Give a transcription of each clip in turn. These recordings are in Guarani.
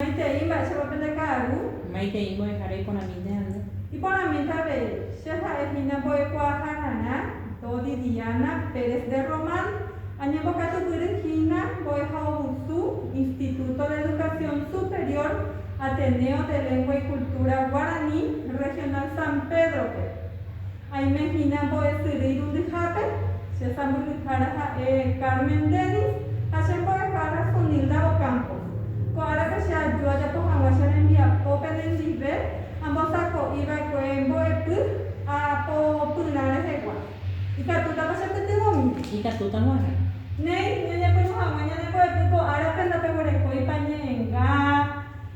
Maitei mba'éichapa pende ka'aru. Maitei mbo'ehára iporãmínte ha'nde. Iporãmínte avei, che ha'e hína mbo'ekuaaha rarã, Dodi Diana Pérez de Román, añembokatupyry hína mbo'ehaovusu Instituto de Educación Superior Ateneo de Lengua y Cultura Guaraní Regional San Pedro-pe. Aime hína mbo'esyry irundyhápe, che sãmbyhyhára ha'e Carmen Dennis ha che mbo'ehára Sonilda Ocampos. Ko árape che aju ajapo hag̃ua che rembiapo penendive ambosako'i va'ekue mbo'epy aapo pyrã rehegua. Ikatútapa che pytyvõmi? Ikatúta g̃uarã. Néi, ñañepyrũ hag̃ua ñane mbo'epy ko árape ndapeguerekóipa ñe'ẽnga.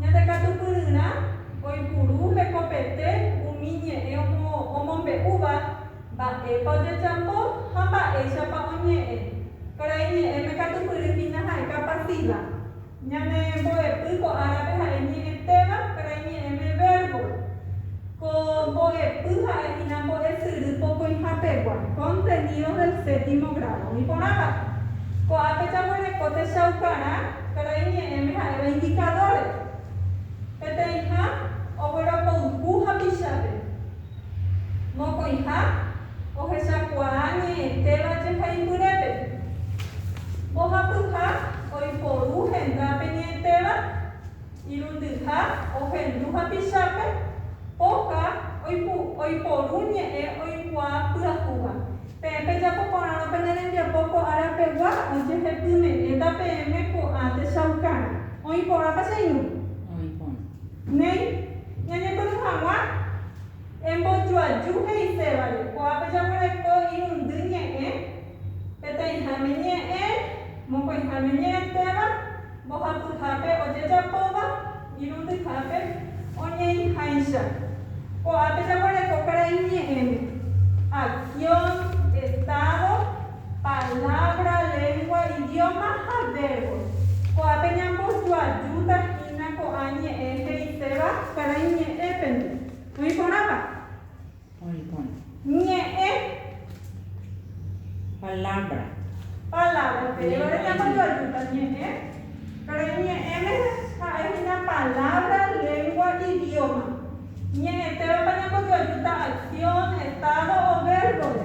Ñande katupyryrã oipuru hekopete umi ñe'ẽ omombe'úva mba'épa ojejapo ha mba'éichapa oñe'ẽ. Karai ñe'ẽme katupyry hína ha'e kapasíva. Ñane mbo'epy ko árape ha'e ñe'ẽtéva karai ñe'ẽme vérbo. Ko mbo'epy ha'e hína mbo'esyry pokõihapegua, contenidos del séptimo grado, iporãva'ekue. Ko'ápe jaguereko techaukarã karai ñe'ẽme ha'éva indicadores, peteĩha ogueropouku hapichápe, mokõiha ohechakuaa ñe'ẽtéva jehaipyrépe, mbohapyha oiporu hendápe ñe'ẽtéva, Irundyha ohendu hapichápe, poha oiporu ñe'ẽ oikuaa pyahúva. Peẽ pejapo porãrõ pene rembiapo ko arapegua, ojehepyme'ẽta peẽme ko'ã techaukáre. Oĩ porãpa che irũ? Oĩ porã. Néi, ñañepyrũ hag̃ua embojoaju he'isévare. Ko'ápe jaguereko irundy ñe'ẽ, peteĩháme ñe'ẽ, mokõiháme ñe'ẽtéva. Mbohapyhápe ojejapóva irundyhápe oñeĩháicha. Ko'ápe jaguereko karai ñe'ẽme, acción, estado, palabra, lengua, idioma ha verbo. Ko'ápe ñambojoajúta hína ko'ã ñe'ẽ he'iséva karai ñe'ẽpente. Oĩ porãpa? Ñe'ẽ. Palabra. Palabra. Péro ñambojoajúta ñe'ẽ. Péro iñe'ẽme ha'e hína palabra, lengua, idioma. Ñe'ẽtévapa ñambojoajúta acción, estado o verbore.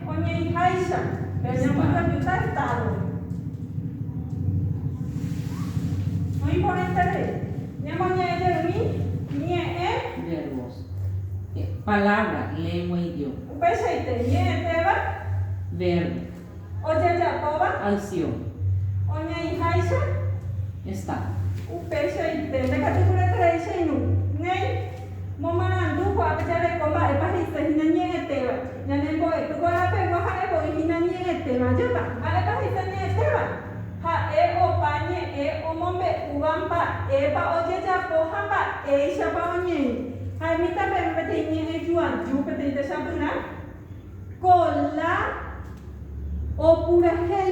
Oñe'ĩháicha, Brasil jajuta Estado-re. Oĩ porãiteve, ñamoñe'ẽ jerumi ñe'ẽ. Verbos. Palabra, lengua, idioma. Upeichaite, ñe'ẽtéva. Verbo. Ojejapóva. Acción. Oñe'ĩháicha. Estado. Upeichaite, ndakatupyryetereíchainu. Néi. Momarandu ko'ápe jareko mba'épa he'ise hína ñe'ẽtéva. Ñane mbo'epy kuarapegua ha'e voi hína ñe'ẽtéva júta. Mba'épa he'ise ñe'ẽtéva? Ha'e opa ñe'ẽ omombe'úva mba'épa ojejapo ha mba'éichapa oñeĩ. Ha'e mitãpeve peteĩ ñe'ẽ juaju, peteĩ techapyrã kola opurahéi.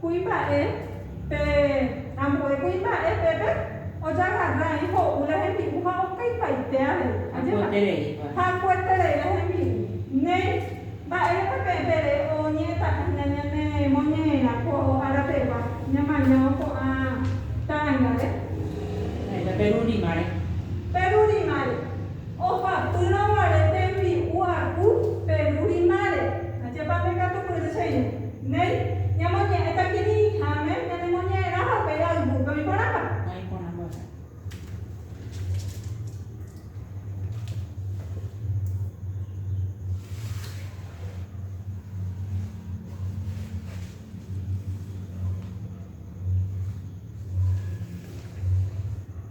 Kuimba'e, pe ambue kuimba'e pépe ojagarrái ho'u la hembi'u ha okaipaite avei. Hakuetereípa. Hakueterei la hembi'u. Néi, mba'érepa peẽ pere oñe'ẽtaha hína ñanemoñe'ẽrã ko ára pegua ñamañávo ko'ã tárangare? Ha'éta perurrimare. Perurrimare. Ohapýrõ guare tembi'u aku pe ru rimare. Ajépa nde katu kyry che irũ. Néi, ñamoñe'ẽta kirirĩháme ñanemoñe'ẽrãva upéi ayvúpe. Oĩporãmba? Oĩporãmba va'erã.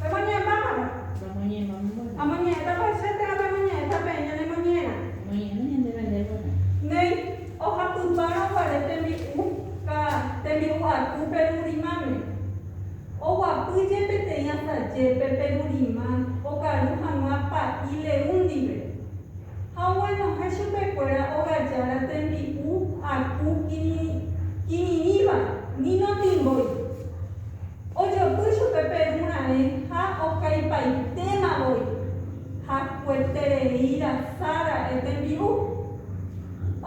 Pemoñe'ẽpámarõ? Amoñe'ẽta paicha térã pemoñe'ẽta peẽ ñanemoñe'ẽrã? Néi, ohapypárõ guare tembi'u ka tembi'u aku perurymame. Oguapy je peteĩ asaje pe perurýma okaru hag̃ua pa'i leũ ndive. ha oguenohẽ chupekuéra ogajára tembi'u aku kirirĩva ni notimbói. Ojopy chupe Perú raẽ ha okaipaitéma voi, hakueterei rasa ra'e tembi'u.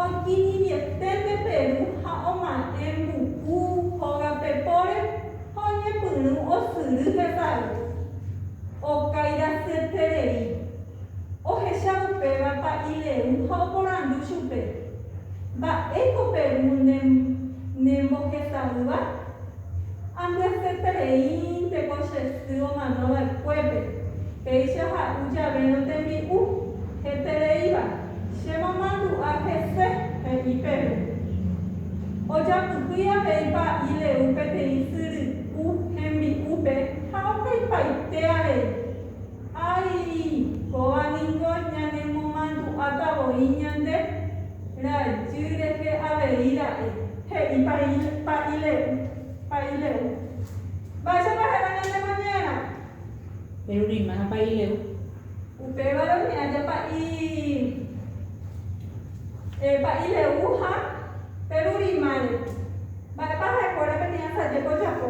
Okirirĩeténte Perú ha oma'ẽ mbuku hógape póre ha oñepyrũ osyry hesay. Okairasyetérei. Ohecha upéva pa'i Leu ha oporandu chupe, Mba'éiko Perú ne mbohesavýva? Ambyasetereínte ko che sy omano va'ekuépe, péicha ha'u javérõ tembi'u hetereíva, che momandu'a hese, he'i Perú. Ojapyhýi avei pa'i Leu peteĩ sy ry'u hembi'úpe ha opaipaite avei. Ái, kóva ningo ñanemomandu'áta voi ñande rajy rehe avei ra'e! he'i Pa'ile'u. Pa'ile'u. Mba'éichapa héra ñande mañara? Reruréimaha Pa'ile'u. Upévare umi aja Pa'i, eh, Pa'ile'u ha perurímare. Mba'épa ha'ekuéra peteĩ asajépe ojapo?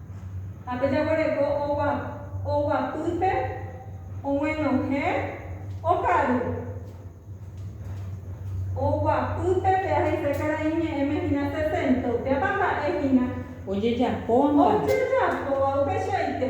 Ha pe jaguereko oguapýpe oguenohẽ okaru. Oguapýpe pe ahese karai ñe'ẽme hína sesenta, upépa mba'e hína. Ojejapóva. Ojejapóva upeichaite.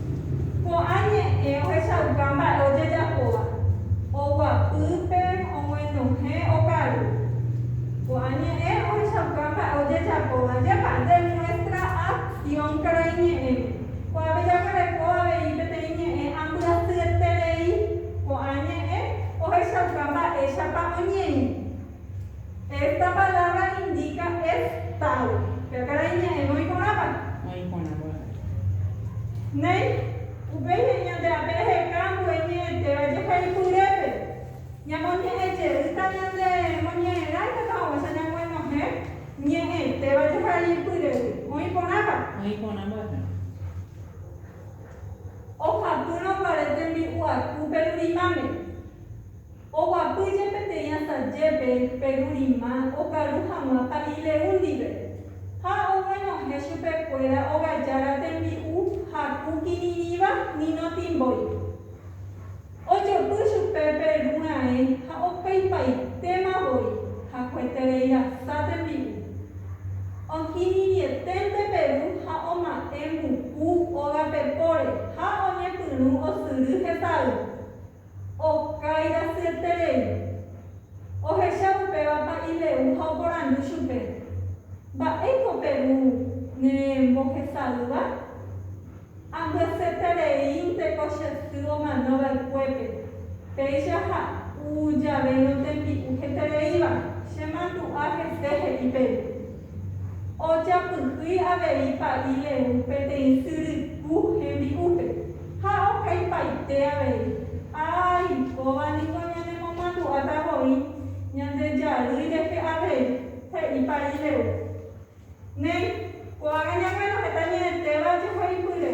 Ko'ã ñe'ẽ ohechauka mba'e ojejapóva, oguapýpe, omoindohẽ, okaru. Ko'ã ñe'ẽ ohechauka mba'e ojejapóva jepa de nuestra acción karai ñe'ẽme. Ko'ápe jaguereko avei peteĩ ñe'ẽ ambyasyeterei. Ko'ã ñe'ẽ ohechauka mba'éichapa oñeĩ. Esta palabra indica estado. Pe akarai ña'ẽme oiporãva? Oiporãva avei. Néi, upéi he'i ñande rape reheka ambue ñe'ẽtéva jeheipyrépe. Ñamoñe'ẽ jeýta ñande moñe'ẽrã ikatu haguéicha ñamoinohẽ ñe'ẽtéva jeheipyrégui. Oĩporãva? Oĩporãva avei. Ohapýrõ guare tembi'u aku pe rurimãme. Oguapýje peteĩ asajépe pe ru rima okaru hag̃ua pa'i Leú ndive, ha oguenohẽ chupekuéra ogajára tembi'u haku kirirĩva nino timbói. Ojopy chupe pe ru raẽ ha okaipaitéma voi hakueterei rasa tembi'u. Okirirĩeténte pe ru ha oma'ẽ mbuku ógape póre ha oñepyrũ osyry hesay. Okái rasyeterei. Ohecha upéva pa'i Leú ha oporandu chupe, Mba'éiko pe ru ne mbohesa'ỹva? Ambyasyetereínte ko che sy omano va'ekuépe, péicha ha'u jave notembi'u hetereíva, chemandu'a hese he'i pe ru. Ojapyhy avei pa'i Lehú peteĩ syryku hembi'úpe, ha okaipaite avei, Ái, kóva ningo ñanemomandu'áta voi Ñandejary rehe avei, he'i pa'i Lehú. Néi, ko'ágã ñaguenohẽta ñe'ẽtéva jehaipyre.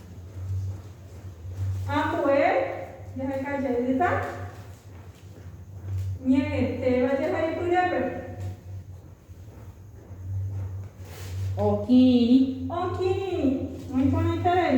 Ambue jaheka jeýta ñe'ẽtéva jehaipyrépe. Okirirĩ. Okirirĩ. Oĩporãiterei.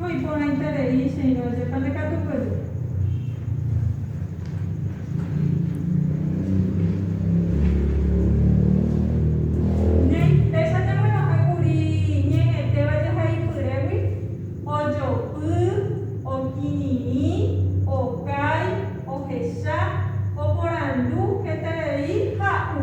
Ko iporãiterei che irũ ajépa nde katu pejy. Néi, péicha ñaguenohẽ kuri ñe'ẽtéva jehaipyrégui, ojopy, okirirĩ, okái, ohecha, oporandu, heterei, ha'u.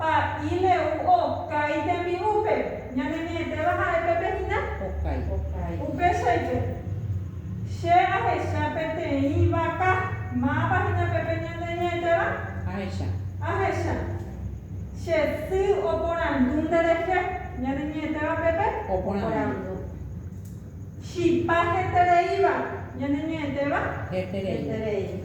Pa'i Leú okái tembi'úpe. Ñaneñe'ẽtéva ha'e pépe hína? Okái. Upéichaitépe, che ahecha peteĩ vaka. Mávapa hína pépe ñaneñe'ẽtéva? Ahecha. Ahecha. Che sy oporandu nderehe. Ñaneñe'ẽtéva pépe? Oporandu. Chipa hetereíva. Ñaneñe'ẽtéva? Heterei.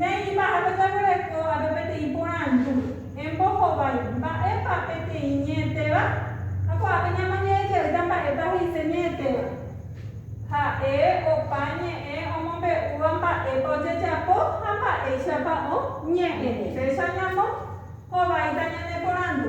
Néipa ha peteguereko ha pe peteĩ porandu, Embohovái, mba'épa peteĩ ñe'ẽtéva? Ha ko'ápe ñamañe'ẽ jeýta mba'épa he'ise ñe'ẽtéva. Ha'e opa ñe'ẽ omombe'úva mba'épa ojejapo ha mba'éichapa oñe'ẽ. Péicha ñamo hováita ñane porandu.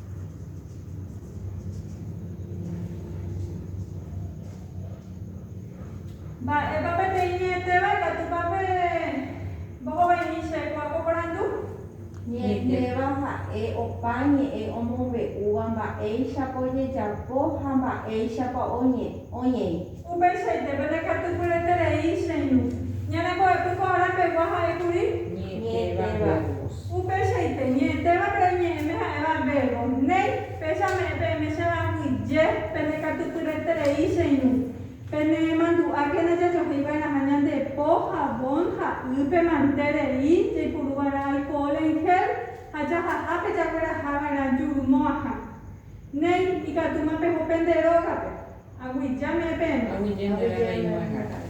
Mba'épa peteĩ ñe'ẽtéva ikatúpa pe mbohovaimi che kuápo porandu? Ñe'ẽtéva ha'e opa ñe'ẽ omombe'úva mba'éichapa ojejapo ha mba'éichapa oñe'ẽ. Upeichaite pene katupyreterei cheirũ. Ñane mbo'epy ko ára pegua ha'e kuri. Ñe'ẽtéva verbos. Upeichaite, ñe'ẽtéva pe reñe'ẽme ha'éva verbos. Néi, péicha me'ẽ peẽme che ambyje pene katupyreterei cheirũ. Pene mandu'ákena jajohéi va'erãha ñande po, jabón, ha y, pe mante rei, jaipuru va'erã alcohol en gel, ha jahaha pe jagueraha va'erã juru mo'ãha. Néi, ikatúma peho pende rógape. Aguyje me'ẽpéma. Aguyje ndéve reĩmo'ãihárape.